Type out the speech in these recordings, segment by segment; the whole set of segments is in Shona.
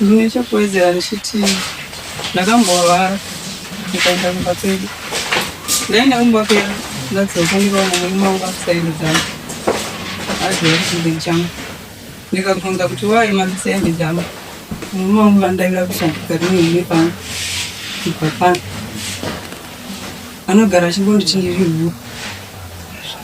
Ndine chekuwedzera ndichiti ndakambovara ndikaenda kumba kwedu ndaenda kumba kwedu ndadzoka ndikaona murume wangu akusairo dzangu aziva kuti mberi changu ndikabvunza kuti waye mazisaende dzangu murume wangu vandaira kushandika rinei pano kubva pano anogara achingonditi ndiri huru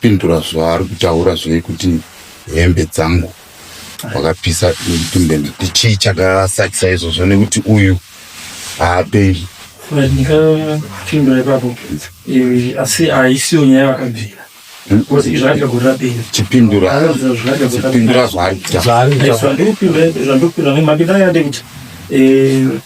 Pindura zvaari kutaura zvoye kuti hembe dzangu wakapisa tumbende tichii chakasakisa izvozvo nekuti uyu haaperi ndikapindura ipapo eh, asi haisiyo nyaya vakabvira chipindura zvaari kutaura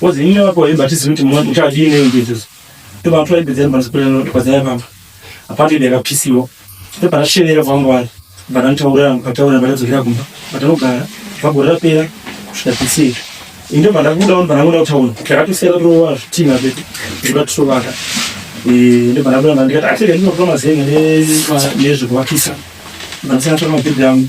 Kozi ini wako hemba tizi kuti mwana uchadii nei ndizo. Toba twa ibedza mwana sikule kwa zaya mama. Apati ndeka pisiwo. Toba rasherera vangu wani. Bana ntaura mkataura bana zokira kumba. Batanogara vagorera pera kusvika pisiwo. Inde bana kuda on bana kuda utaona. Takatusera rowa zvitina zvedu. Kuda tusovaka. Eh inde bana kuda ndikati achiri ndinotoma zenge nezvekuvakisa. Bana sina toma bidhamu.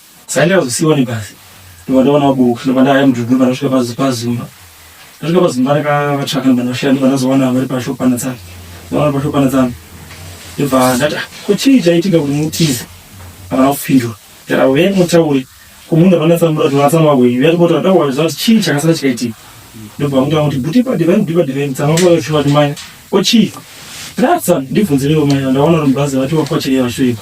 Saida kuzosiwa nebhazi ndovandaona vaboka ndobva ndaya mudhuri ndobva ndasvika pazumba ndasvika pazumba ndakavatsvaka ndobva ndasvika ndobva ndazowana vari pashopana tsana ndaona pashopana tsana ndobva ndati ah, ko chii chaitika kuti mutize havana kupindura ndati avo venyu mutaure ko munhu avanatsamura kuti vanatsamura kwenyu yatipota ndakuwa zvati chii chakasara chikaitika ndobva mutaura kuti buti padi venyu buti padi venyu tsama kuva vachivati maya ko chii ndatsa ndibvunzirewo maya ndaona kuti mubhazi vati wakwachirei vashoipa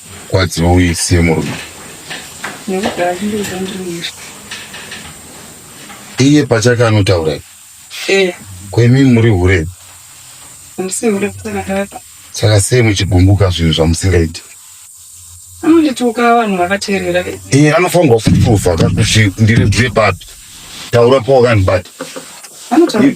Kwadziwa uye isiye murume. Nekuti hazvindiri zvandiri kuita. Iye pachake anotaura iye. Eh, Ko imi muri hure. handisi hure kusana kaka. Saka sei muchigumbuka zvinhu zvamusingaiti? Anondituka vanhu vakateerera. Iye anofanirwa kupruvha ka kuti ndiri hure papi. Taura pawakandibata. Anotaura.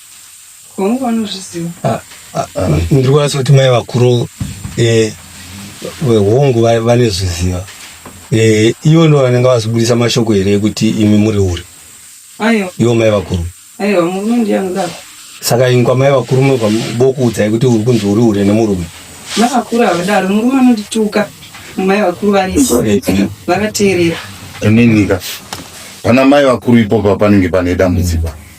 Hongu vanozviziva. Ah, ah, ah, ndiri kwanisa kuti mai vakuru eh, vehongu va- vanozviziva Eh, ivo ndo vanenge vazibudisa mashoko here ekuti imi muri uri Aiwa, ivo mai vakuru aiwa murume ndiye anodaro. saka ini kwamai vakuru munobva bokuudzai kuti uri kunzi uri hure nemurume Mai vakuru havadaro, murume anondituka. Mai vakuru varipo. Eh, Vakateerera. ininika pana mai vakuru ipopa panenge pane dambudziko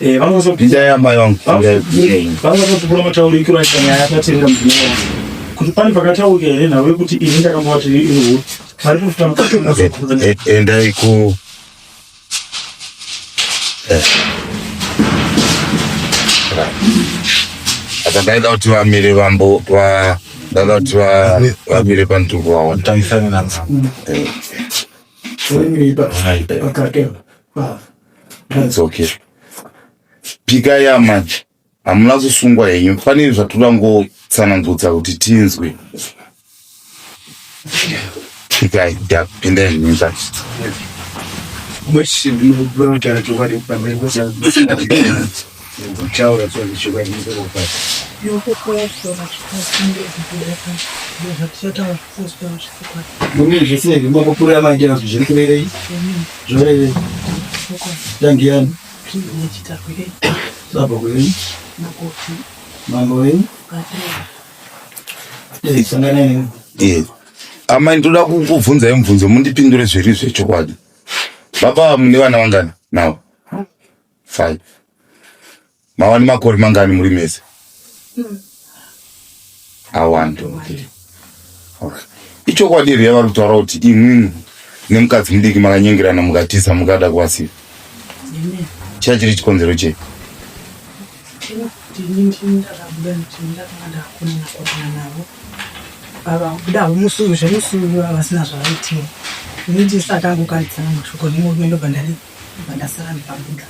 Eh, vangozobvira amai vangu vangozobvura mataurikiro aita nyaya yakatevera mudzimai wangu kuti pane pakataurika here nhau yekuti ini ndakambovati inhu vari kutoendai eh, ku eh. apa ndaida kuti vamire vambo ndaida kuti vamire pantuko vaona taisana navo It's okay. Pika ya manje. Hamuna kusungwa henyu. Fanire zvatoda ngo tsanangudza kuti tinzwe. Pika ya pinda henyu zvacho. Mweshi ndinobuda kuti anatoka nepamwe. amai ndoda kukubvunzai mubvunzo mundipindure zviri zvechokwadi baba mune vana vangana nawo Five. Mava nemakore mangani muri mese? Hmm. Awandi. Okay. Okay. Ichokwadi here yavari kutaura kuti imwimwi nemukadzi mudiki makanyengerana mukatiza mukada kuwasiva? Chaiva chiri chikonzero chei? vavakuda musuvi zvemusuvi vavasina zvavaitira ini ndisati angokaridzana mashoko nemurumendo bandari Ndobva ndasara ndikabuda.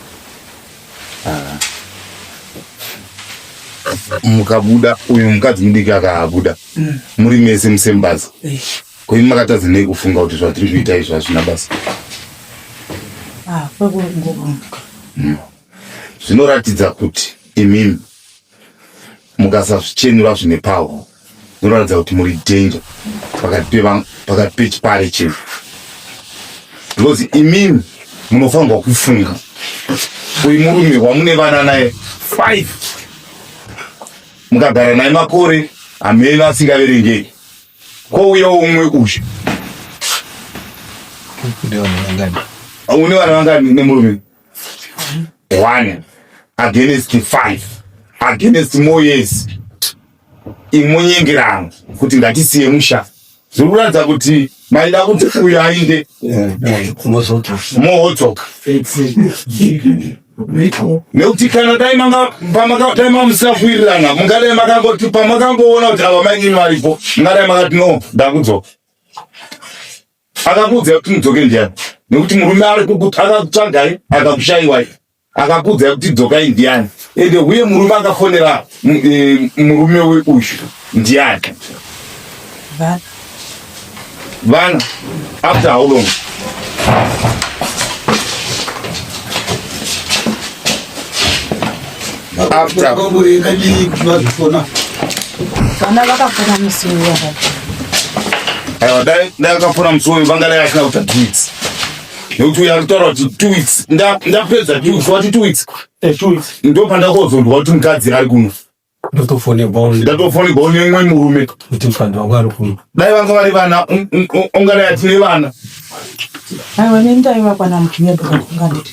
Ah. Mukabuda uyu mukadzi mudiki akabuda. Mm. Muri mese musembaza. Eh. Ko imi makatadza nei kufunga kuti zvatiri kuita izvi hazvina basa? Ah, kwekungorumbuka. Mm. Zvinoratidza kuti imimi mukasazvichenura zvine paho munoratidza kuti muri danger pakati pechipare chino because imimi munofanirwa kufunga uyu murume wamune vana naye five mukagara naye makore hameno asingaverengeki kwouya umwe uyu une vana vangani nemurume one against five against more years imonyengerano kuti ngatisiye musha zvikuratidza kuti maida kuti uyo ainde mohotoka nekuti kana dai mamusafuirirana mungadai makangoti pamakangoona kuti ava mainini varipo mungadai makati no ndakudzoka Akakuudza kuti mudzoke ndiani? Nekuti murume ari akakutsvagai akakushaiwai akakuudza kuti dzokai ndiani? Ende uye murume akafonera e, murume uyu ndiani? Vana. Vana. After how long? After. Vana vakafona musi uyu. Aiwa dai dai vakafona musi uyu vangadai vasina kuita two weeks. Nekuti uya kutaura kuti two weeks ndapedza two weeks wati two weeks. Eh, two weeks. Ndo pandakozonzwa kuti mukadzi ari kuno. Ndatofonerwawo ndatofonerwawo nemwe murume kuti mukadzi wangu ari kuno. Dai vanga vari vana ungadai atine vana. Aiwa nendai vakwana muchinyebeka kunganditi.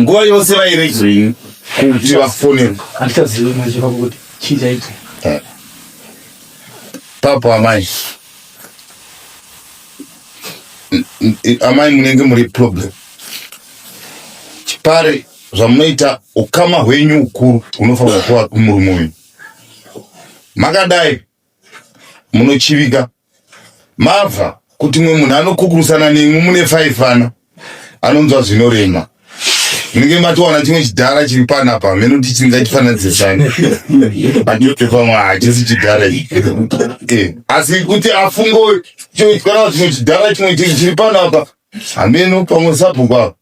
Nguva yose vairegerei kuti vafonerwe? Handichazivi manje pakuti chii chaitika. Eh. Papo amai. Amai munenge muri problem. Chipare zvamunoita ukama hwenyu ukuru unofanira kuva kumurume wenyu. Makadai munochivika mabva kuti mwe munhu anokukurusana nemwe mune faifana anonzwa zvinorema munenge matowana chimwe chidhara chiri pana pa meno kuti chingatifananidzisani andipefamwa hachisi chidhara eh, asi kuti afungo choitwara chimwe chidhara chimwe chiri pana pa hameno pamwe sabhuku apa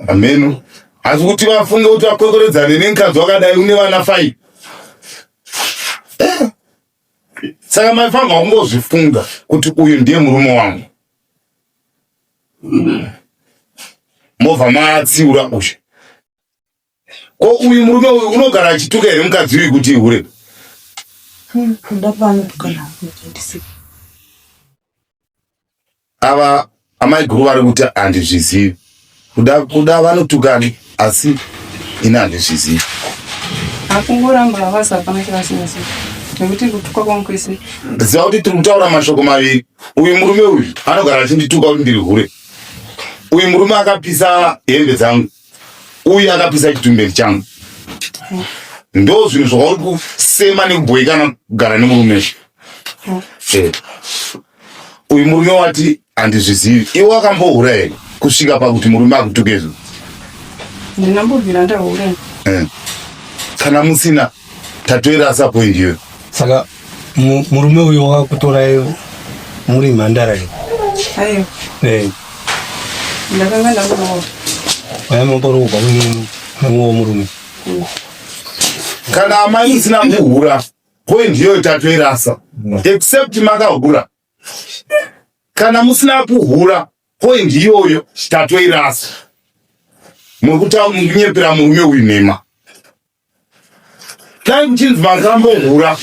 Ameno. Asi kuti vafunge kuti vakwekweredzane nemukadzi wakadai une vana five. Eh. Saka maifanirwa kungozvifunga kuti uyu ndiye murume wangu. Mobva maatsiura uyu. Ko uyu murume uyu unogara achituka here mukadzi uyu kuti ihure? Ava amai guru vari kuti handizvizivi. Kuda kuda vanotukani asi ini handizvizivi. Akungoramba havasi hapana chavasinasi nekuti kutuka kwangu kwese. Ziva kuti tiri kutaura mashoko maviri. Uyu murume uyu anogara achindituka kuti ndiri hure. Uyu murume akapisa hembe dzangu. uyu akapisa chitumberi changu ndo zvinhu zvauri kusema nekubhoikana kugara nemurume izvi eh. uyu murume wati handizvizivi iwe wakambohura here kusvika pakuti murume akutuke izvo ndinambobvira ndahura eh. kana musina tatoirasa point iyoyo saka murume uyo wakutora muri mhandara iyo ayo eh ndakanga ndamuona aya mamboro kubva kunini namuwo murume mm. kana amai musina kuhura point iyoyo tatoirasa mm. except makahura kana musina kuhura point iyoyo tatoirasa muri kutaura mukunyepera murume uyu nhema dai muchinzi makambohura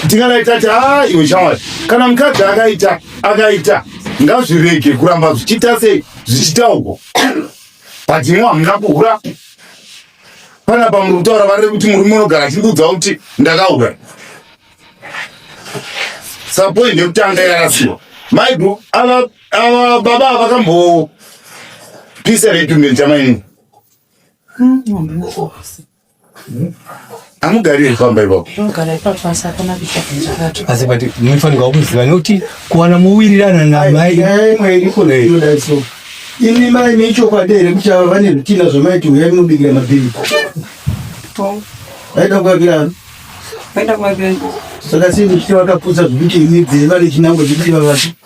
tingadai tati haa iwe shamwari kana mukadzi akaita akaita ngazvirege kuramba zvichiita sei zvichitaurwa but imwe hamuna kuhura panapa muri kutaura vareve kuti murume unogara achindiudza kuti ndakaura sapoint yekutanga yarasiwa maidu ava baba vakambo pisa redu nechamaini amugari pamba ipapo asi but munofanirwa kuziva nekuti kuwana mowirirana namai imi mai mechokwadi here kuti ava vane zvitina zvamaiti huyai munobikira mabhiri vaida kuvakirano saka sei muchiti vakaputsa zvekuti imi dzeva nechinango zvekuti vavati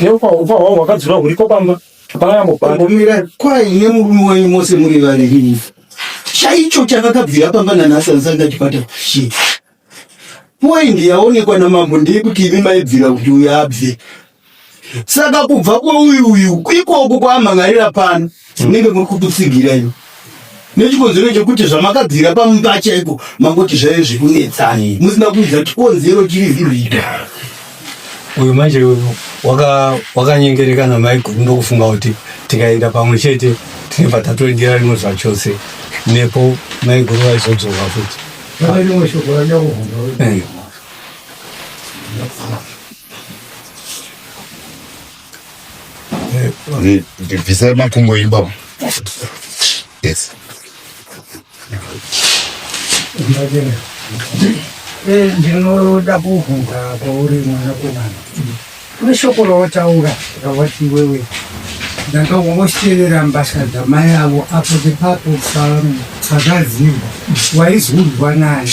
Neufa ufa hwangu wakadzura huriko pamba. Pangambomira kwaine murume wenyu mose muri vaviri. Chaicho chakakabvira pamba nanhasi asanga chipata kushi. Poindi yaonekwa namambo ndeyekuti imi maibvira kuti uyu abve. Saka kubva kweuyu uyu ikoko kwaamhan'arira pano munenge muri kututsigira imi nechikonzero chekuti zvamakabvira pamumba chaiko mangoti zvaive zvekunetsani musina kuudza chikonzero chiri zvirida uyu manje wakanyengerekana mai guru ndokufunga kuti tikaenda pamwe chete tinobva tatoendera rimwe zvachose nepo mai guru vaizodzoka futi ndibvisai makumbo enyu baba yes ndinoda kuvhunza kwauri mwanakomana kune shoko rawataura rawati wewe ndanga wosheera mbasha dzamai avo apo nepapo pazvazimba waizunzwa naye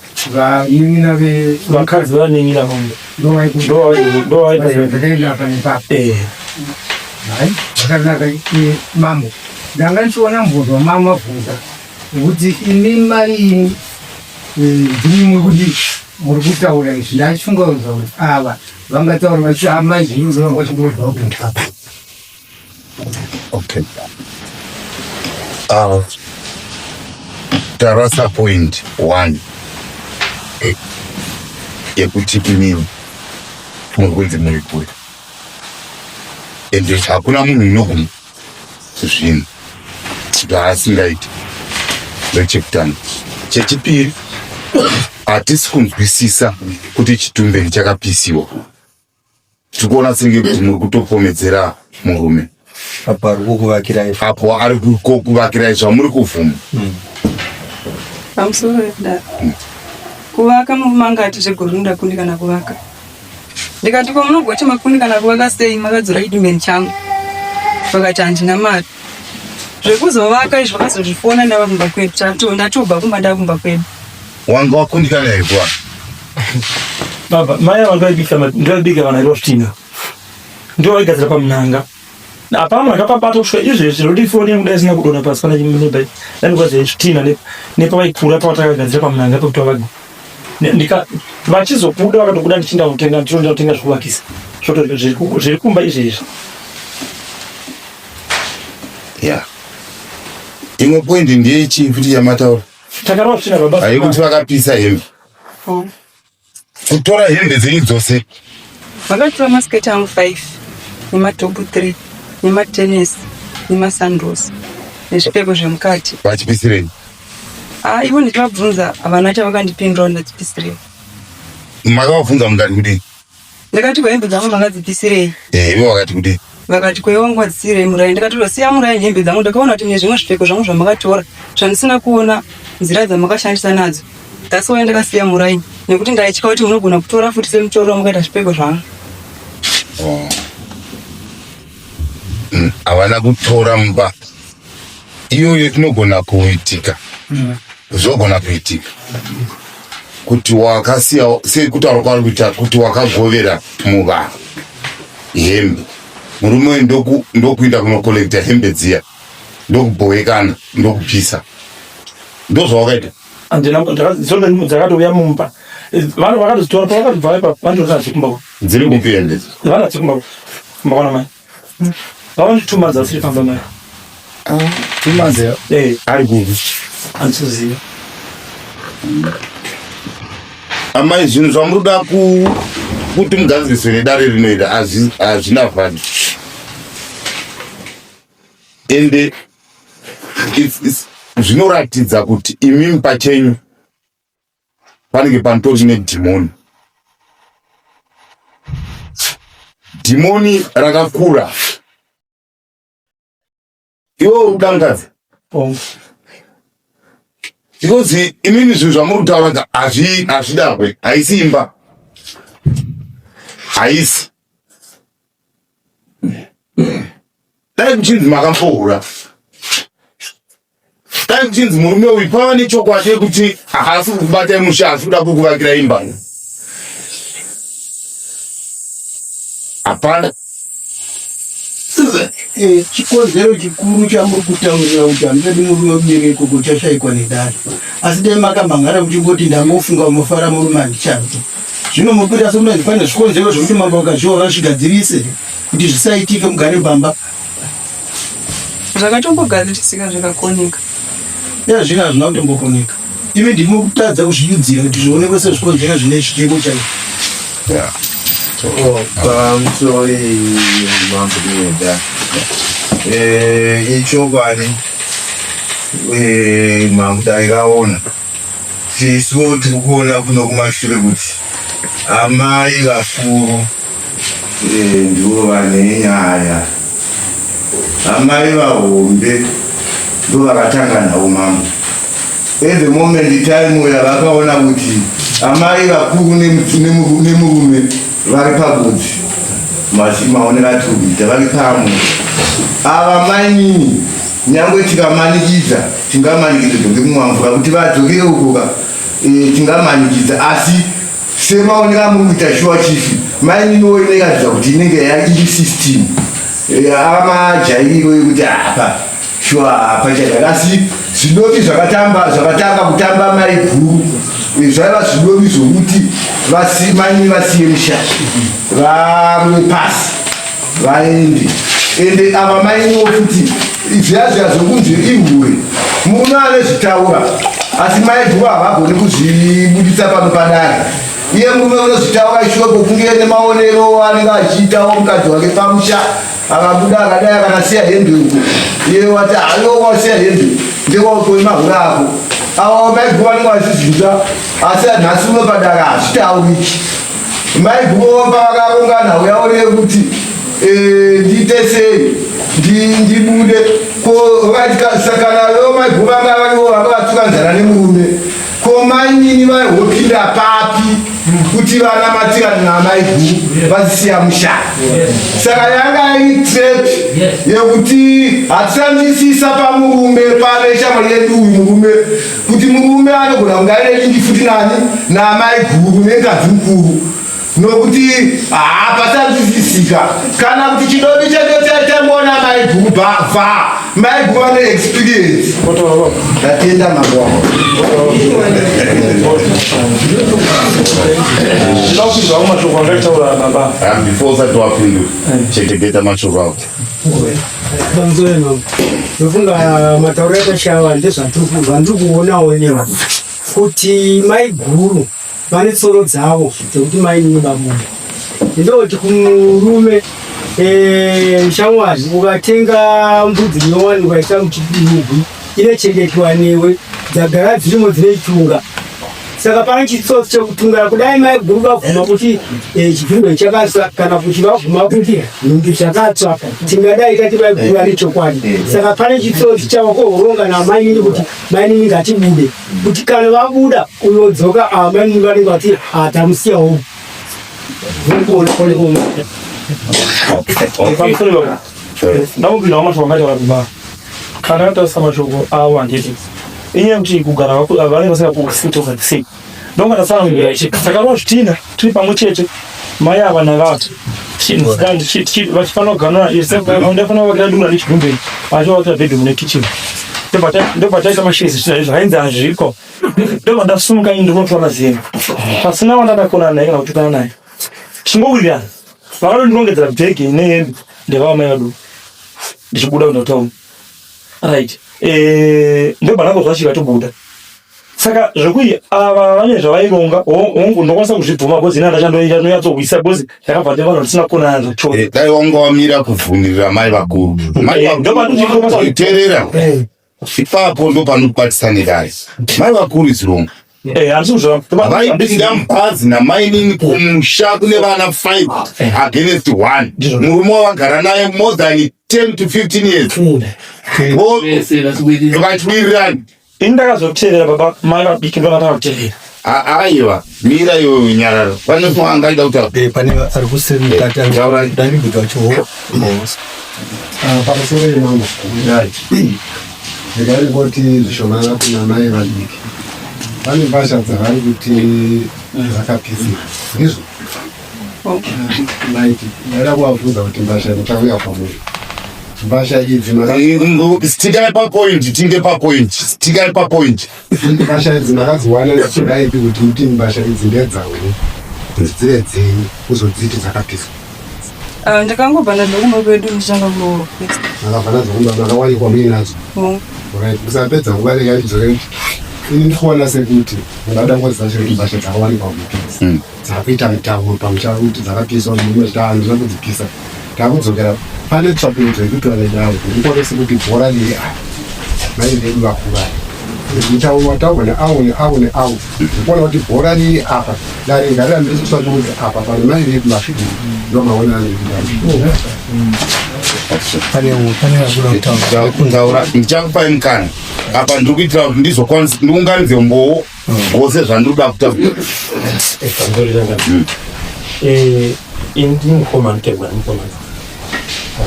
vanin'ina vakadzi vanin'ina vamwe ndovaitazvakaenda apa nepapo hai zvakanaka mambo ndanga ndichiona mbozwa mama mabvunza kuti imi maini ndimwe kuti muri kutaura izvi ndachifunga kuti ava vangataura vachiti amai zvinhu zvavangachimbozwa kuti ndapa Okay. Uh, tarasa point one yekuti inini muri kunzi muri kure ende hakuna munhu unoguma zvinhu zvaasingaiti ndechekutanga chechipiri hatisi kunzwisisa kuti chitumbeni chakapisiwa tiri kuona senge kuti muri kutopomedzera murume apo ari kukuvakirai apo ari kukuvakirai zvamuri kuvhuma hmm. pamusoro yekudaro hmm. kuvaka murume anga ati zvegore unoda kundi kana kuvaka ndikati ko munogocha makundi kana kuvaka sei makadzora chidimeni changu vakati handina mari zvekuzovaka izvo vakazozvifona ndava kumba kwedu tatoo ndatobva kumba ndava kumba kwedu Wanga wakundikana here kwa? Baba, mai ava ndoibika ndoibika vana Rostino. Ndio waigadzira pamunanga. Na pamwe akapabata kusvika izvezvi zvinoti foni yangu daisina kudona pasi pana chimene bai. Dani kwa zvitina ne nepa vaikura pa watakagadzira pamunanga pekuti wavaga. Ndika vachizobuda vakatobuda ndichinda kutenga ndichinda kutenga zvekuvakisa. Zvoto zviri kumba izvezvi. Yeah. Imwe point ndiye chii futi yamataura? Takarova tsvina baba. Ayi kuti vakapisa hembe. Oh. Kutora hembe dzenyu dzose. Vakatora masiketi angu 5 nematopu 3 nematenesi nemasandals nezvipfeko zvemukati. Vachipisirei? Ah, ivo ndichivabvunza havana chavakandipindura kuti ndachipisirei. Makavabvunza mukati kudii? Ndakati kwehembe dzangu makadzipisirei? Eh, ivo vakati kuti vakati kwewe wangu wadzisirei murai ndikati ndosiya murai hembe dzangu ndakaona kuti mune zvimwe zvipfeko zvangu zvamakatora zvandisina kuona nzira dzamakashandisa nadzo that's why ndakasiya murai nekuti ndaitya kuti munogona kutora futi semutoro wamakaita zvipfeko zvangu oh. mm, havana kutora mumba iyoyo inogona kuitika mm. zvogona kuitika kuti wakasiya sekutaura kwaari kuita kuti wakagovera muvanhu hembe murume uyu ndokuinda kunokollekta hembe dziya ndokubhowekana ndokupisa ndozvawakaita dzakatouya mumba vanhu vakatozitora pavakatobva ipapo vanhu dziri kupi hembe vana dziri kumba kumba kwana mai Vaone tuma dzasiri pamba mara. Ah, tuma dzeo. Eh, ari gugu. Ansuziva. Amai zvinhu zvamuri kuda ku kuti mugadziriswe nedare rinoita hazvina vhadhi. Ende it's, it's, zvinoratidza kuti imimi pachenyu panenge panotori nedhimoni dhimoni rakakura iwe uri kudangadza because imini zvinhu zvamuri kutaura hazvidahwe haisi imba haisi dai kuchinzi makambohura Dai kuchinzi murume uyu pava nechokwadi yekuti haasi kukubata musha asi kuda kukuvakira imba. Hapana. Eh, chikonzero chikuru chamuri kutaurira kuti handidi murume ubiri ikoko chashaikwa nedare asi dai makamhan'ara muchingoti ndangofunga mufara murume handichabvi zvino mupira somunanzi pane zvikonzero zvekuti mambo vakazviwa vazvigadzirise kuti zvisaitike mugare pamba zvakatombogadzirisika zvikakoneka ya zvino hazvina kutombokoneka imi ndimo kutadza kuzvinyudzira kuti zvionekwe sezvikonzera zvine chiteko chai ichokwadi mambo taikaona Tisu tiri kuona kuno kumashure kuti amai vakuru eh, ndivo vane nyaya. Amai vahombe ndivo vakatanga nhau mambo. At the moment time uya vakaona kuti amai vakuru nemurume vari pagudzi maonera tikuita vari pamwe ava mainini Nyangwe tikamanikidza tingamanikidza dzokekumwa mvura kuti vadzokere uko ka e, tingamanikidza asi semaoneka muri kuita shuwa chief maininiwo inekaridza kuti inenge yairi system e, amajairiro yekuti hapa shuwa hapa chadaka asi zvidovi zvakatamba zvakatanga kutamba mai guru e, zvaiva zvidovi zvokuti mainini vasiye musha vamwe pasi vaende ende ava mainoo futi zviya zviya zvokunzi ihure murume anezvitaura asi maiguva havagoni kuzvibuditsa pano padare iye murume unozvitaura ishoko kunge nemaonero anenge achiitawo mukadzi wake pamusha akabuda akadai akanasiya hembe uko iye wati haiwo wasiya hembe ndewautowe mahure ako awa maiguva anenge achizvinza asi nhasi uno padare hazvitauriki Mai Gumo pavakaungana uya uriye kuti eh, ndiite sei ndibude ko vakasakana veo mai Gumo vanga varivo vanga vatuka nzara nemurume ko mai nini vaihopinda papi kuti vana matirani namai Gumo vazisiya mushana saka yanga iri trap yekuti hatisanzwisisa pamurume pane shamwari yedu uyu murume kuti murume anogona kunge aine lingi futi nani naamai guru nengazi mukuru nokuti hapasazvisisika kana kuti chidobi chacho chaitamboona mai guru bva mai guru vane experience ndatenda mangwa ndinokuizvawo mashoko angaitaura baba before usati wapindu chetegeta mashoko avo Bonzo yenu. Ndofunga matauro yakashava ndezvandiri kuonawo nyewa kuti maiguru vane tsoro dzavo dzekuti mainini babuda ndoti kumurume eh, shamwari ukatenga mbudzi inowanikwa isamchidii inochengetwa newe dzagara dzirimo dzine chunga saka pane chitsotsi chekutungara kudai maiguru vabvuma kuti eh, chipfindo chakasa kana kuti vabvuma kuti nhumbi zvakatsva tingadai tati maiguru ane chokwadi eh, eh. saka pane chitsotsi chavakohoronga namainini kuti mainini ngatibude kuti kana vabuda uyodzoka ah, mainini vanenge vati hatamusiyawo ah, ndakupindawo mashoko angataura kumba kana atarisa mashoko avo handiti inyaya yekuti kugara vanenge vasikakusintoka the same ndongatatsanangura ichi takarova zvitina tiri pamwe chete mai ava navati vachifanira kuganura ndafana kuvakira dura nechigumbeni vachivakira bedroom nekitchen ndopataita mashezi zvitina izvo hainzi hazviko ndobva ndasumuka ini ndinotora zero pasina wandadakona naye kana kutukana naye chingowirirana vakanondirongedzera bhegi ine hembe ndevava mai vadu ndichibuda kuenda kutown right eh, ndobva ndakozwa chika tobuda saka zvekuti ava vane zvavaironga hongu ndokwanisa kuzvibvuma bhozi ina ndachandoita ndonyatsohwisa bhozi ndakabva ndivanhu ndisina kukonana zvacho eh, dai wanga wamira kuvhunirira mai vakuru eh, ndomaterera Ipapo ndo panokwatisa nedare. Mai vakuru is wrong. Eh, vaipinda mubhazi namainini kumusha kune vana 5 against 1 murume wavagara naye more than 10 to 15 years vachiwirirana ini ndakazoteerera baba mai vabiki ndovakatanga kuteerera Aiwa, mira iwe unyararo. Pane mfo angaida kuti eh, pane ari kuseri eh, mukati angaura dani bika wacho ho. Ah, pamusoro yemama. Ndai. Ndikari kuti zvishomana kuna mai vadiki. Pane mbasha dzavari kuti dzakapisa. Ndizvo. Maiti, ndaida kuvafunza kuti mbasha ndichauya kwamuri. Mbasha idzi mara. Tikai papoint, tinge papoint. Tikai papoint. Mbasha idzi ndakadziwana ndichidayi kuti kuti mbasha idzi ndedzawe dzive dzenyu kuzodziti dzakapiswa. Ah, ndakangobva nadzo kumba kwedu ndichanga kuroora. Akabva nadzo kumba makawanikwa muine nadzo. Mm. Right, kusapedza nguva rega ndidzore kuti ini ndikuona sekuti ndada ngozi dzacho kuti mbasha dzakawanikwa kuti. Mm. dzakuita mitambo pamusha kuti dzakapiswa zvimwe zvitanhu zvina kudzipisa takudzokera pane tsvakurudzo yekuti vanainavo ndikwanisi kuti bhora riri ava mai vedu vakuvai mutauro wataurwa neavo neavo neavo ndikuona kuti bhora riri apa dare ngarira ndiri kutsvakurudza apa pane mai vedu vasvidi ndomaona anoiaa ndichakupai mukana apa ndiri kuitira kuti ndizokwanisa ndiunganidze mbowo Ngose zvandoda kuta. Ekandorira nga. Hmm. Eh, indi mukoma ntegwa mukoma.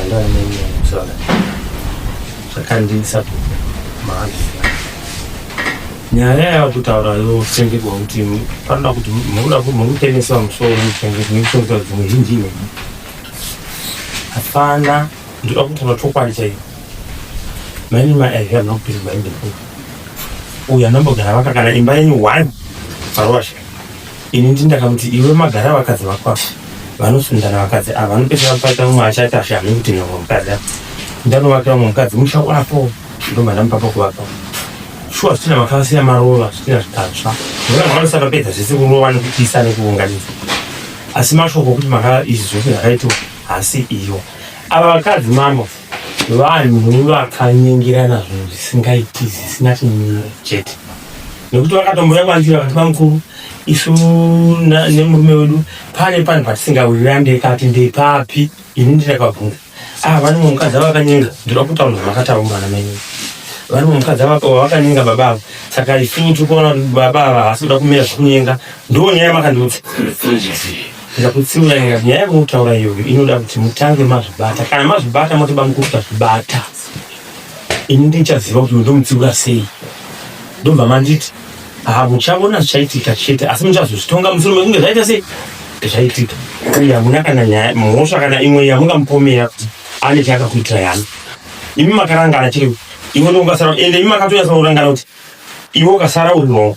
Anda nini msala. Sakandi sapo. Maali. Nyaya ya kutaura yo senge kwa kuti panda kuti mura kuti mukutenesa musoro mutenge kuti mukutenesa kuti muhinji ne. Hapana ndoda kutaura chokwadi chaiyo. Many my I have not been my before. Uya nambogara vaka kana imba yenyu one parwasha. Ini ndi ndakamuti iwe magara vakadzi vakwa. Vanosundana vakadzi ava vanopesera kupata umwe achati ashame kuti nyoka mukadzi. Ndanovakira umwe mukadzi musha wapo. Ndoma ndamupapo kuvaka. Shuwa zvitina makasiya maruva zvitina zvitatsva. Ndona mwanosaka pedza zvese kurova nekupisa nekuunganidza. Asi mashoko okuti maka izvi zvose zvakaitwa hasi iyo. Ava vakadzi mambo. vanhu vakanyengerana zvinhu zvisingaiti zvisina chimiro chete nekuti vakatomboya kwanzira vakati vamukuru isu nemurume wedu pane panhu patisingawirira ndekati ndepapi ini ndinakabvunza ah vane mumwe mukadzi ava vakanyenga ndoda kutaura zvamakataura mwana menyu vane mumwe mukadzi ava vakanyenga baba ava saka isu tiri kuona kuti baba ava havasi kuda kumira zvekunyenga ndoo nyaya makandiudza Ndakutsinyayira nyaya yamunotaura iyoyo inoda kuti mutange mazvibata. Kana mazvibata moti bamukuru tazvibata. Ini ndichaziva kuti uyu ndomutsiura sei. Ndobva manditi ah muchaona zvichaitika chete asi muchazozvitonga musoro mekunge zvaita sei zvaitika uye hamuna kana nyaya mhosva kana imwe yamungamupomera kuti ane chaakakuitira yani imi makarangana chete iwe ndoungasara ende imi makatonyatsa kurangana kuti iwe ukasara uri wrong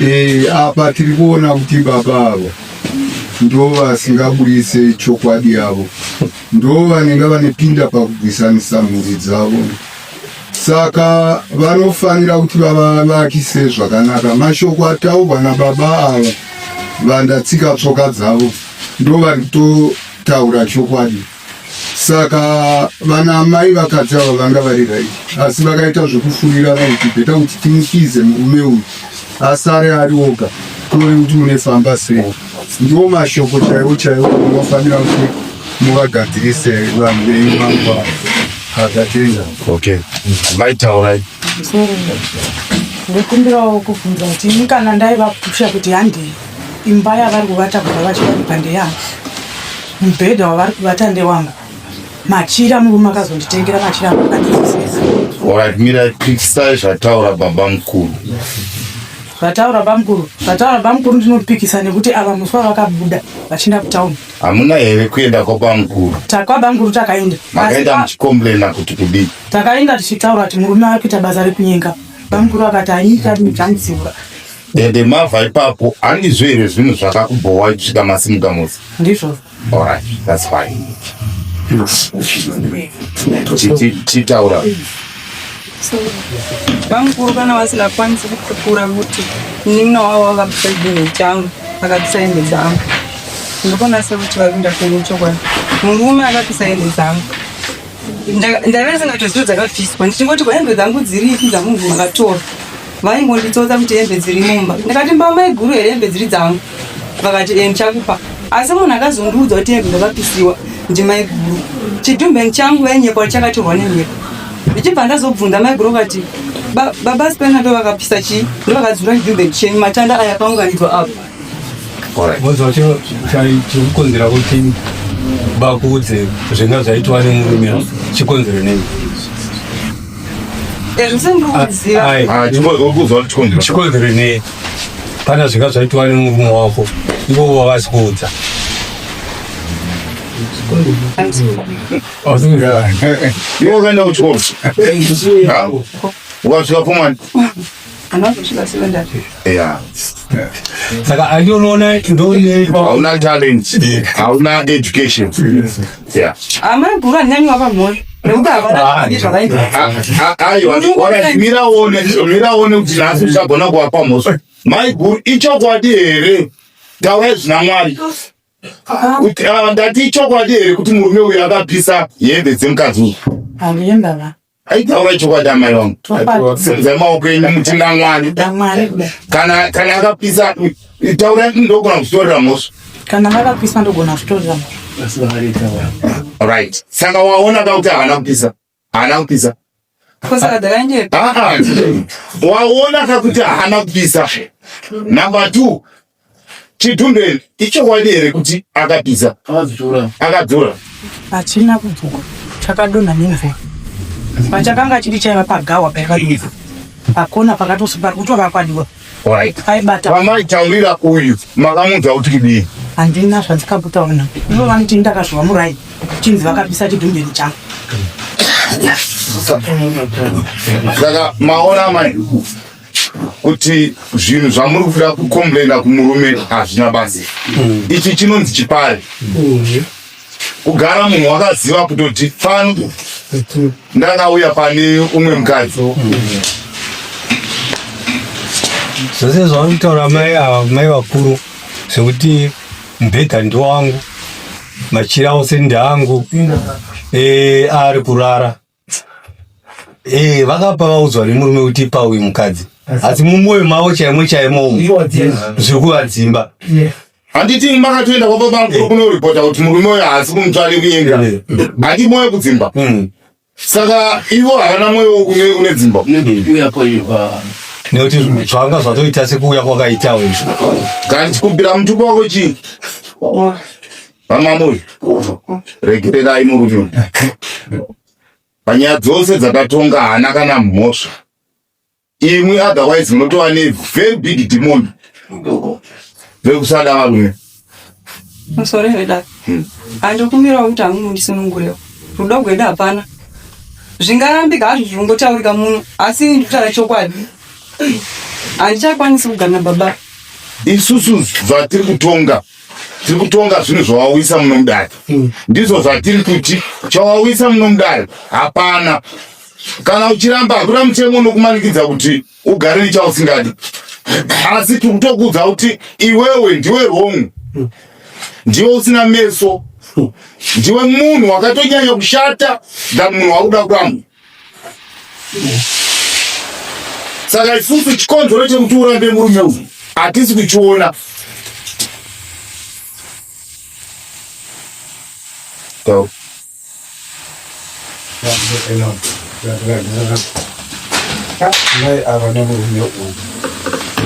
Eh, apa tiri kuona kuti baba avo ndo vasingaburitse chokwadi yavo ndo vanenge vanepinda pakubwisanisa mhuri dzavo saka vanofanira kuti vavavakise zvakanaka mashoko ataurwa nababa ava vandatsika tsoka dzavo ndo vari kutotaura chokwadi saka vana amai vakadzi ava vanga vari rai asi vakaita zvekufurira kuti beta kuti timukize murume uyu asare ari oga kuone kuti munefamba sei ndiwo mashoko chaiwo chaiwo unofanira kuti muvagadzirise vanhu venyu vangwa akatenga okay mai taurai ndikumbirawo kubvunza kuti ini kana ndaivapusha kuti handei imba yavari kuvata kuva vachivaipa ndeyangu Mubhedha wavari kuvata ndewangu. Machira murume akazonditengera machira akadizisisa. Alright, mira pikisai zvataura baba mukuru. Zvataura baba mukuru, zvataura baba mukuru ndinopikisa nekuti ava musi wavakabuda vachienda kutown. Hamuna here kuenda kwaba mukuru? Takwa baba mukuru takaenda. Makaenda muchikomblena kuti kudii? Takaenda tichitaura kuti murume ari kuita basa rekunyenga. Baba mukuru akati anyika ndimudzanisiura. Dede mava ipapo handizvo here zvinhu zvakakubhowa kusvika masimuka musi? Ndizvo. Alright, that's fine. Chitaura. Bamukuru kana vasina kwanisa kutukura kuti nina wavo vakapedza changu akatisa hembe dzangu. Ndikona se kuti vakuenda kwenyu chokwadi. Murume akatisa hembe dzangu. Ndaive ndisingatozivi dzakafiswa ndichingoti kwahembe dzangu dziripi dzamunhu akatora. vaingonditsotsa kuti hembe dziri mumba ndikati mba maiguru here hembe dziri dzangu vakati e ndichakupa asi munhu akazondiudza kuti hembe ndakapisiwa ndimaiguru chidhumbeng changu vainyepa kuti chakatorwa nenyepa ndichibva ndazobvunza maiguru vakati baba spena ndovakapisa chii ndovakadzura chidhumbeng chenyu matanda aya akaunganidzwa apo Wozwa chiro chikukonzera kuti bakuudze zvinga zvaitwa nemurume chikonzero nei? Chikonzero nei? Pana zvinga zvaitwa nemurume wako ivo wavasi kuudza You're going to talk. What's your woman? Yeah. Saka andinoona ndone hauna talent, hauna education. Yeah. Amai guru anyanyi wapa mhoyo. Aiwa, mira one, mira one kuti nhasi uchagona kuwapa mhosva. Mai guru ichokwadi here? Taurai zvina Mwari. Ndati ichokwadi here kuti murume uyu akapisa hembe dzemukadzi uyu? Handiyendava. aitaura chokwadi amai vangu senzai maoko enyu mutenda mwari kana kana akapisa taura ndogona kutorera mhosva kana vakapisa ndogona kutorera right saka waona ka kuti haana kupisa haana kupisa waona ka kuti haana kupisa number two Chidundeni ichokwadi here kuti akapisa? Akadzura. Akadzura. Hachina kudzura. Chakadonha nemvura. Pachakanga chiri chaiva pagawa paikadonha. Pakona pakatosi pari kutovakwadiwa. Right. Aibata. Vamai taurira uyu makamunza kuti kidii? Handina zvandikabutaona. Ivo vanoti ndakazviwa murai. Chinzi vakapisa chidundeni changu. Saka maona amai. kuti zvinhu zvamuri kuda kukomplaina kumurume hazvina basa mm. ichi chinonzi chipari mm. kugara munhu wakaziva kutoti pano ndakauya pane umwe mukadzi mm. zvose zvavanitaura mai ava mai vakuru zvekuti mubhedha ndowangu machira ose ndeangu eh, ari kurara Eh, vakapa vaudzwa nemurume kuti ipa uyu mukadzi asi mumwoyo mavo chaimo chaimo umu zviri kuvadzimba handiti makatoenda kwapa bangu kunoripota kuti murume uyo haasi kumutsvani kunyengera handi mwoyo kudzimba Mm. saka ivo havana mwoyo wokuve une dzimba nekuti zvanga zvatoita sekuuya kwakaitawo izvo kana tichikumbira mutupo wako chii Vamamuzvi, regererai murume uyu. Panyaya dzose dzatatonga haana kana mhosva. Imwi otherwise munotova ne very big demon vekusada varume. Musore here dad? Handikumbirawo kuti hamwe mundisunungurewo. Rudo gwedu hapana. Zvingarambika hazvo zvinongotaurika muno, asi ini ndikutaura chokwadi. Handichakwanisi kugana baba. Isusu zvatiri kutonga tiri kutonga zvinhu zvawauyisa muno mudare mm. ndizvo zvatiri kuti chawauyisa muno mudare hapana kana uchiramba hakuna mutemo unokumanikidza kuti ugare nechausingadi asi tiri kutokuudza kuti iwewe ndiwe wrong mm. ndiwe usina meso mm. ndiwe munhu wakatonyanya kushata than munhu wakuda kuramwa saka isusu chikonzero chekuti urambe murume uyu hatisi kuchiona Go. mai ava nemurume uyu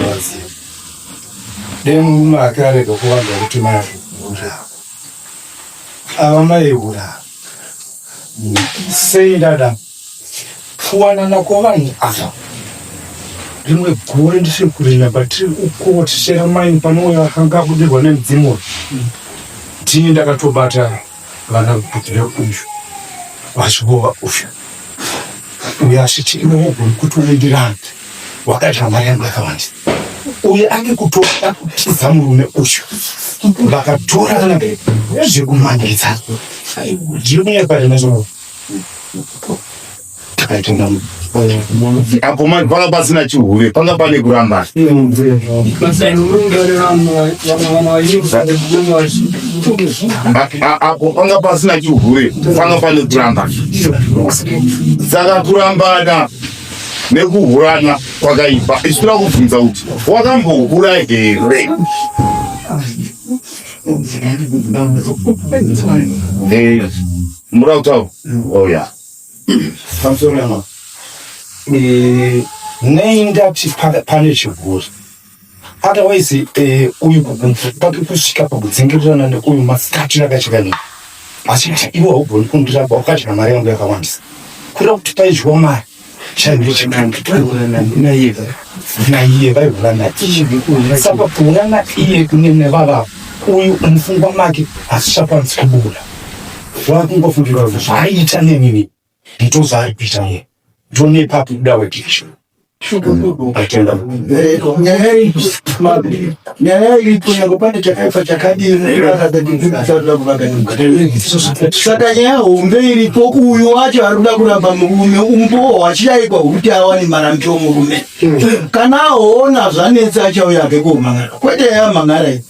vaziva dai murume ake arega kuvanga kuti mai ava mai hura sei dada kuwanana kwavanhu ava rimwe gore ndisiri kurina batiri ukotishera maini panouya vakanga akudirwa nemudzimu uyu ndini ndakatobata vana vekutira uyu vachivova uyu uyo asiti iwe wogoni kuti uendirande wakaita mari yangu yakawanda uye ane kutoda kutiza murume uyu vakatora kana zvekumhangaidza ndiri kunyaya pari nazvo takaitenga apo manje panga pasina chihure panga pane kurambana apo panga pasina chihure panga pane kurambana saka kurambana nekuhurana kwakaipa isu toda kubvunza kuti wakambohura here muda kutaura oya nei ndati pane chiguri otherwise eh, uyu pake kusvika pakudzingirirana neuyu masikati rakachikanyika achiti iwe haugoni kundiraba ukadya mari yangu yakawandisa kura kuti paidyiwa mari chaivechikanaiye naiye vaivulana iye saka kuulana iye kune nevavavo uyu mufungwa make asisakwanisi kubula vakungofungira kuti zvaaita nenini ndozvaari kuita munhu ndone papi kuda wekisho atenda nyaya iripo yango pane chakaipa chakadirisaka nyaya hombe iripo uyu wacho ari kuda kuramba murume umbowo hwachidaikwa hwekuti awane marambiro murume kana aona zvanetsa achauya ake kuomangara kwete yamangara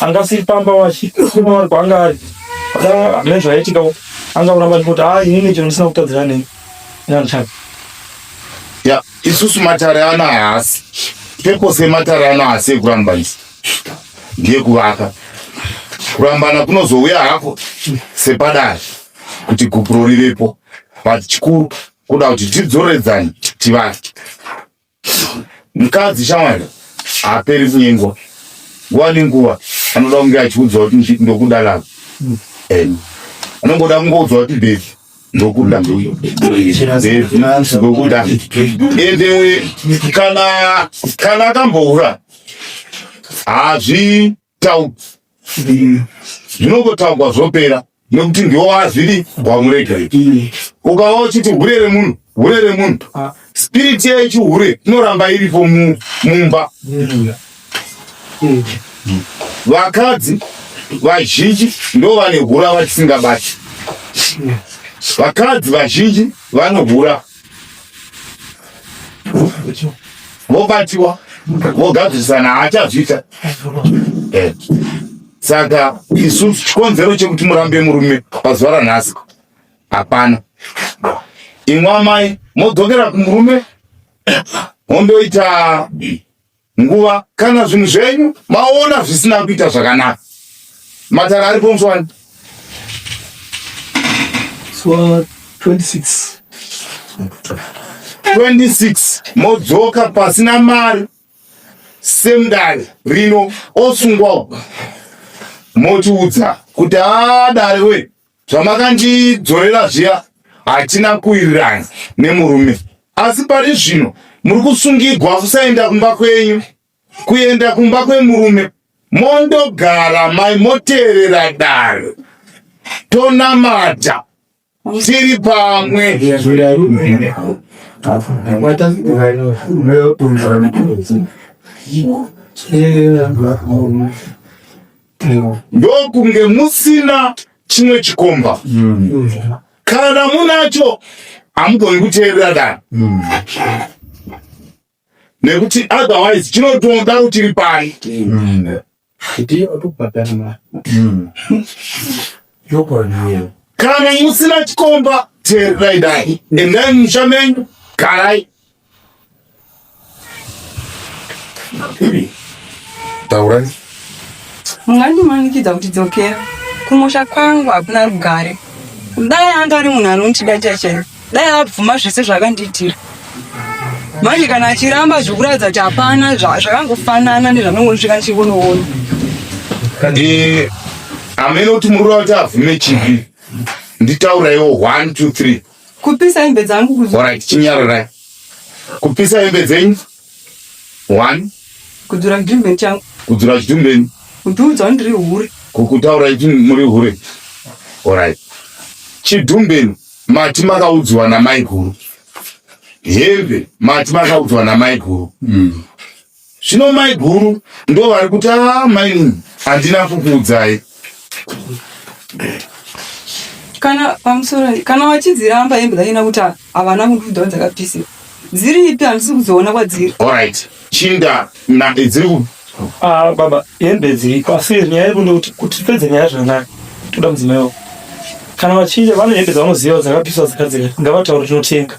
anga asiri pamba wachi kuma vari kwaanga ari hamene zvaiitikawo anga kuramba ndikuti a inini chino ndisina kutadzira nei inandichaka ya isusu matare ano haasi pepose matare ano haasi ekuramba isi ndeyekuvaka kurambana kunozouya hako sepadare kuti gupuro rivepo but chikuru kuda kuti tidzoredzane tivake mukadzi shawanda haaperi kunyengwa nguva nenguva anoda kunge achiudzwa kuti ndokuda lava and anongoda kungoudzwa kuti bebi ndokuda ndokuda ende kana kana akamboura hazvi taurwa zvinongotaurwa zvopera nokuti ndiwo wazviri wamurega ukava uchiti hure remunhu hure remunhu ah. spiriti yechihure inoramba iripo mumba vakadzi vazhinji ndo vane hura vatisingabati vakadzi vazhinji vanohura vobatiwa vogadzirisana haachazviita eh. saka isu chikonzero chekuti murambe murume pazuva ranhasi hapana imwe amai modzokera kumurume mondoita nguva kana zvinhu zvenyu maona zvisina kuita zvakanaka matara ari pomswani so, 26 26 modzoka pasina mari semdare rino osungwawo motiudza kuti adare wee zvamakandidzorera zviya hatina kuwirirana nemurume asi pari zvino muri kusungigwa kusaenda kumba kwenyu kuenda kumba kwemurume mondogara mai moteerera dare tonamata tiri pamwe Yeah. ndokunge musina chimwe chikomba mm. kana munacho hamugoni kuteerera dani mm. nekuti otherwise chinotoda rutiri pani mm. kana musina chikomba teererai dai endai musha menyu garai Taurai. Mungandimanikidza kuti dzokera kumusha kwangu hakuna rugare. Dai anga ari munhu anondida chaichairo, dai abvuma zvese zvakandiitira. Manje kana achiramba zvekuratidza kuti hapana zvakangofanana nezvanongosvika ndichikunoona. Eh, amene kuti muruva kuti abvume chivi nditauraiwo one two three Kupisa hembe dzangu kuzo. Alright, chinyararai. Kupisa hembe dzenyu. One. Kudzura chidumbe changu. Kudzura chidumbe. Kutuudza ndiri hure. Kukutaura ichi muri hure. Alright. Chidumbe mati makaudzwa na mai guru. Hembe mati makaudzwa na mai guru. Mm. Zvino mai guru ndo vari kuti aa maini handina kukuudzai. kana pamusoro kana wachidziramba hembe dzanyina kuti ha- havana kundiudzawo dzakapisira dziripi handisi kudziona kwadziri Alright, chinda na dziri ku Ah, baba hembe dziriko asi nyaya yedu ndekuti kuti tipedze nyaya zvakanaka toda mudzimai wako kana vachida vane hembe dzavanoziva dzakapiswa dzakadzika ngavataure tinotenga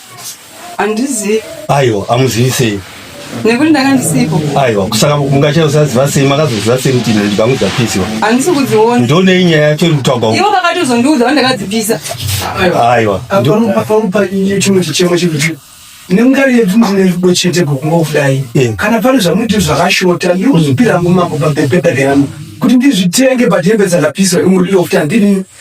Handizivi. Aiwa, hamuzivi sei? nekuti ndakandisipo aiwa kusaka mungacha usaziva sei makazoziva sei kuti ine ndibhangu dzapisiwa handisi kudziona ndionei nyaya yacho iri kutaurwa ivo vakatozondiudza vandakadzipisa aiwa parupa chimwe chichemo chekuti nengari yedu ndine rudo chete kokungokudai eh. kana pane zvamuiti zvakashota ndinozopira ngumambo pabhebhebha reanhu kuti ndizvitenge pahembe dzakapiswa imuriro kuti handini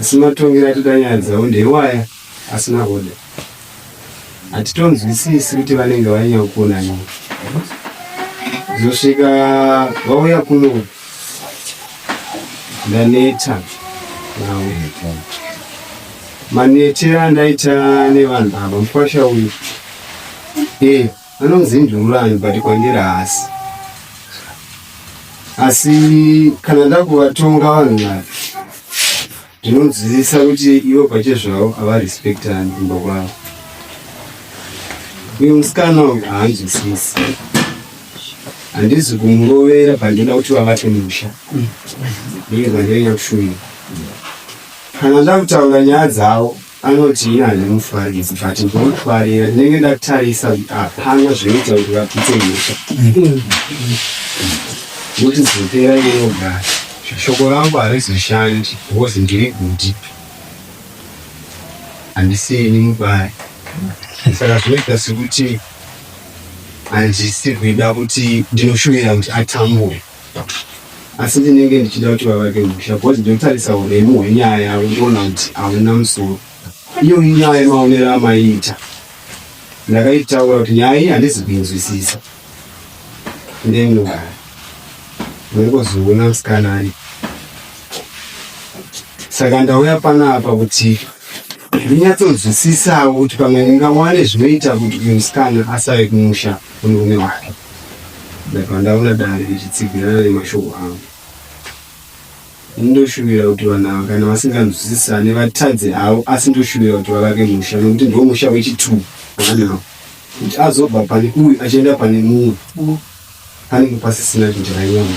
asi matongero atita nyaya dzavo ndeiwaya asina kuda hatitonzwisisi kuti vanenge vanyanya kuona nyaya zosvika vauya kuno ndaneta navo manetera andaita nevanhu ava mukwasha uyu e Anonzi Ndurulani but kwandiri haasi. Asi kana ndakuvatonga vanhu ava ndinonzwisisa kuti ivo pachezvavo havarespectani kumba kwavo. Uyu musikana uyu haanzwisisi. Handizi kumurovera but ndoda kuti vavake musha. Ndiye zvandinenge ndakushuvira. Kana ndakutaura nyaya dzavo Anoti ini handimufaridzi but ndinofarira ndinenge ndatarisa kuti hapana zvinoita kuti vapite nyika kuti zopera inogara shoko rangu harizoshandi because ndiri kuti handisiini mubaya saka zvinoita sekuti handisi kuida kuti ndinoshuvira kuti atambure asi ndinenge ndichida kuti vavake musha because ndotarisa uremu hwenyaya yavo ndiona kuti hauna musoro iyo inyaya yemaonero amaiita ndakaitaura kuti nyaya iyi handizi kuinzwisisa ndenyaya ndokozoona musikana ari saka ndauya panapa kuti ndinyatsonzwisisawo kuti pamwe ndingawane zvinoita kuti uyu musikana asave kumusha Murume wake ndabva ndaona dare richitsivirana nemashoko angu. Ini ndoshuvira kuti vanhu ava kana vasinganzwisisane vatadze havo asi ndoshuvira kuti vavake musha nekuti ndiwo musha wechituu wanawo kuti azobva pane uyu achienda pane mumwe panenge pasisina chinjira nyama.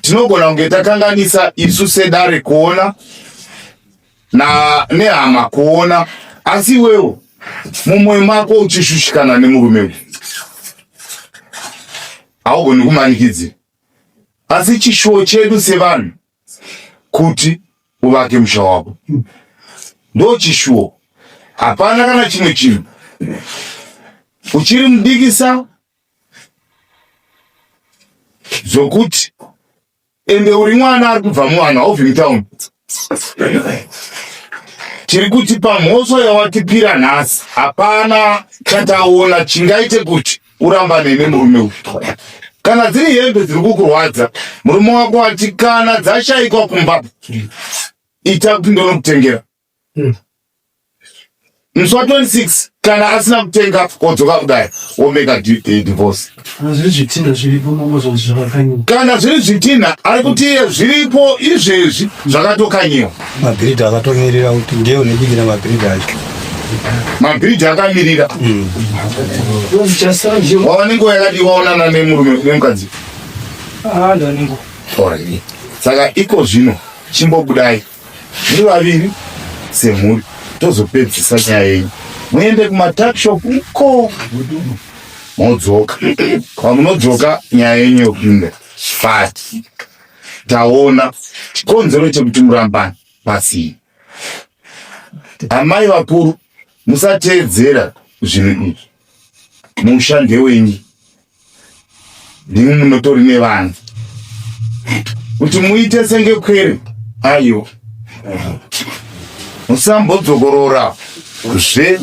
tinogona kunge takanganisa isu sedare kuona na nehama kuona asi iwewo mumwoyo mako uchishushikana nemurume uyu haugoni kumanikidzi asi chishuwo chedu sevanhu kuti uvake musha wako ndo chishuwo hapana kana chimwe chinhu uchiri mudikisa zvokuti ende uri mwana ari kubva muvanhu hauvi mutown tiri kuti pamhosva yawatipira nhasi hapana chataona chingaite kuti urambane nemurume uyu kana dziri hembe dziri kukurwadza murume wako ati kana dzashaikwa kumba ita kuti ndonokutengera Hmm. Musi wa 26 kana asina kutenga odzoka kudai omeka eh, divorce. Kana zviri zvitinha zviripo mongozwa zvakakanyiwa. Kana zviri zvitinha ari kuti iye zviripo izvezvi zvakatokanyiwa. Mabhiridha akatomirira kuti ndiye unobikira mabhiridha acho. Mabhiridha akamirira. Hmm. Wava nenguva yakadii waonana nemurume nemukadzi? Ah, ndava nenguva. Saka iko zvino chimbobudai. muri vaviri semhuri tozopedzisa nyaya yenyu muende kumatakshop ko modzoka pamunodzoka nyaya yenyu yokupinda but taona chikonzero chekuti murambana pasii amai vakuru musateedzera zvinhu izvi musha ndewenyu ndimi munotori nevanhu kuti muite senge kwere ayo musambodzokorora zve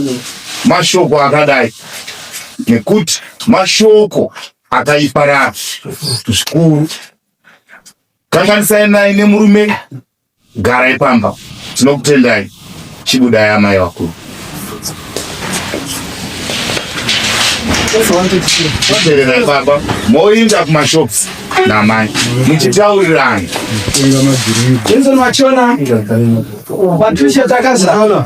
mashoko akadai nekuti mashoko akaiparara zvikuru kanganisai naye nemurume Garai pamba, tinokutendai. Chibudai amai vakuru. Tererai pamba, moinda kumashops namai muchitaurirana. Tenzo machona, patricia takazana.